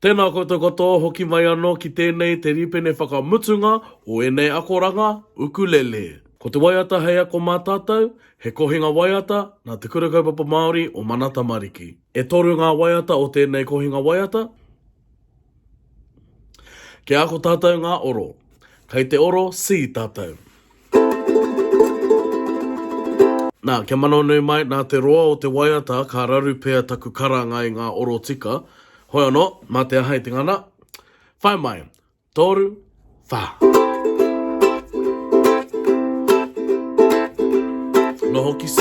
Tēnā koutou katoa hoki mai anō ki tēnei te rīpene whakamutunga o ēnei akoranga ukulele. Ko te waiata hei ako mā tātou, he kohinga waiata nā Te Kura Kaupapa Māori o Mana Tamariki. E toru ngā waiata o tēnei kohinga waiata. Kia ako tātou ngā oro. Kei te oro C tātou. Nā, kia mano nui mai, nā te roa o te waiata ka raru pea taku karanga i ngā oro tika. Hoi anō, mā te aha i te ngana? Whai mai! Toru, wha! Noho ki C.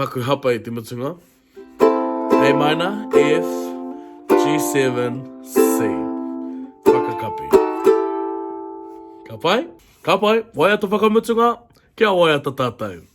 paku hapa i te mutunga. A minor, F, G7, C. Whakakapi. Ka pai? Ka pai, waiata whakamutunga, kia waiata tātou.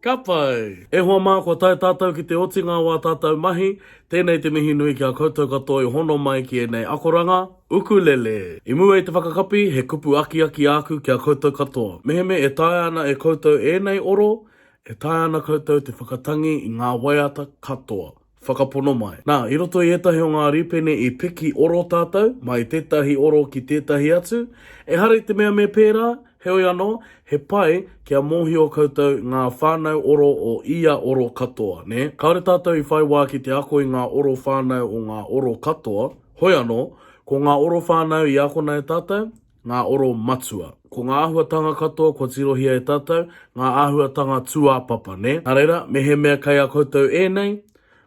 Ka pai! E hoa mā, kua tae tātou ki te otinga o ā tātou mahi, tēnei te mihi nui ki a koutou katoa i hono mai ki ēnei akoranga, Ukulele! I mua i te whakakapi, he kupu akiaki āku ki a koutou katoa. Mehemea e taea ana e koutou ēnei oro, e taea ana koutou te whakatangi i ngā waiata katoa. whakapono mai. Nā, i roto i ētahi o ngā rīpene i piki oro tātou, mai tētahi oro ki tētahi atu, ehara i te mea me pērā, heoi anō, he pai kia mōhio koutou ngā whānau oro o ia oro katoa, nē? Kāore tātou i whai wā ki te ako i ngā oro whānau o ngā oro katoa, hoi anō, ko ngā oro whānau i akona e tātou, ngā oro matua. Ko ngā āhuatanga katoa kua tirohia e tātou, ngā āhuatanga tūāpapa, nē? Nā reira, mehemea kei a koutou ēnei,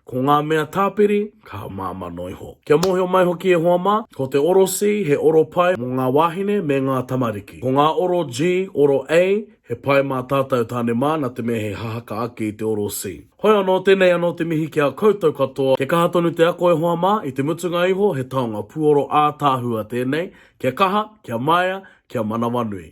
ko ngā mea tāpiri, kaha māmā noa iho. Kia mōhio mai hoki e hoa mā, ko te oro C he oro pai mō ngā wāhine me ngā tamariki. Ko ngā oro G, oro A, he pai mā tātou tāne mā, nā te mea he hahaka ake i te oro C. Hoi anō, tēnei anō te mihi ki a koutou katoa. Kia kaha tonu te ako e hoa mā, i te mutunga iho he taonga puoro ātaahua tēnei, kia kaha, kia maea, kia manawanui.